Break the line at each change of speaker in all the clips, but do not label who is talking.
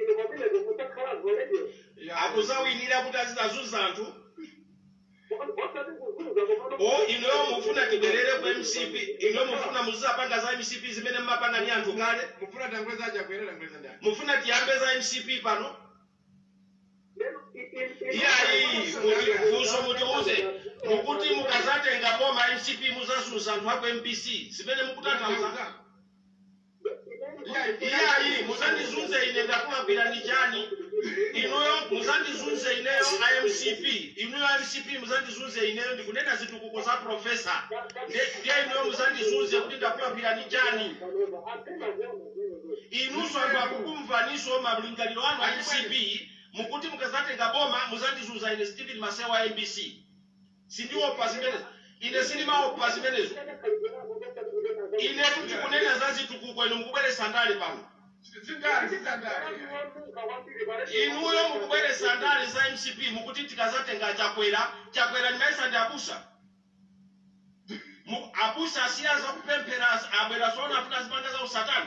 Ine pamene ndikusankha zolengedwa. akuzawinira kuti azidzazunza anthu Osati kuzunza komano. o inuyo mufuna tibwerere ku mcp inuyo mufuna muzizapanga za mcp zimene munkapanga ndi anthu kale mufuna tanguliza aja kuyenda tanguliza ndani mufuna tiyambe za mcp pano Lero i- i- i- iyayi kuti mfunso mutiuze mukuti mukazatenga boma mcp muzazunza anthu aku mbc zimene mukutanthauza iyayi muzandizunze ine ndakulakwirani chani inuyo muzandizunze ineyo a mcp inuyo a mcp muzandizunze ineyo ndikunena zitukuko za profesa Nde- ndiye inuyo muzandizunze kuti ndakulakwirani chani inuso anthu akukumvaniso malingaliro anu a mcp mukuti mukazatenga boma muzandizunza ine stephen maseya wa mbc sindikuopa zimenezo ine sindimaopa zimenezo ine tikunena za zitukuko inu mukubweretsa ndale pano zindale zindale inuyo mukubweretsa ndale za mcp mukuti tikazatenga chakwera chakwera ndimayesa ndi abusa Mu- abusa asiya za kupemphera abwera tsono kuti azipanga za usatana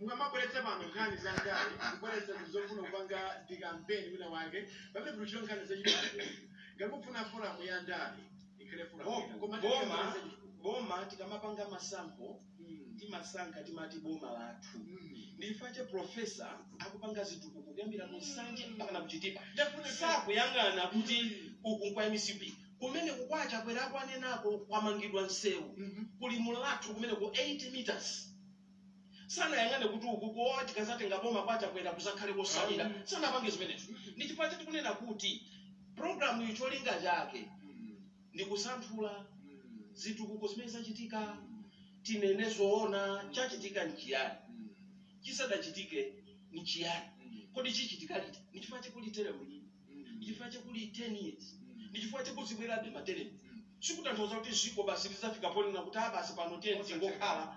mukamabweretsa pano nkhani za ndale kubweretsa zofuna kupanga ndikampeni winawake pamene kulitchula nkhani za chipatala ngati mufuna foramu ya ndale ikhale foramu Bo- koma boma ndikamati boma tikamapanga masankho timasankha timati boma lathu ndi chifukwa chake profesa akupanga zitukuko kuyambira ku nsanje mpaka na ku chitipa sakuyang'ana kuti uku nkwa mcp kumene ku kwa chakwera akunenako kwamangidwa msewu ku limulathu kumeneku 8 meters sanayang'ane kuti uku kuopa tikazatenga boma kwa chakwera kuzakhale kosalira sanapange zimenezo ndi chifukwa chake tikunena kuti programu iyi cholinga chake ndi kusanthula zitukuko zimene zachitika tinene zoona chachitika nchiyani chisadachitike nchiyani kodi chichitika liti ndi chifukwa chake kuli teremu iyi ndi chifukwa chake kuli 10 years ndi chifukwa chake kuzibwerabe materemu sikutanthauza kuti dziko basi lizafika ponena kuti a basi pano tiyeni tingokhala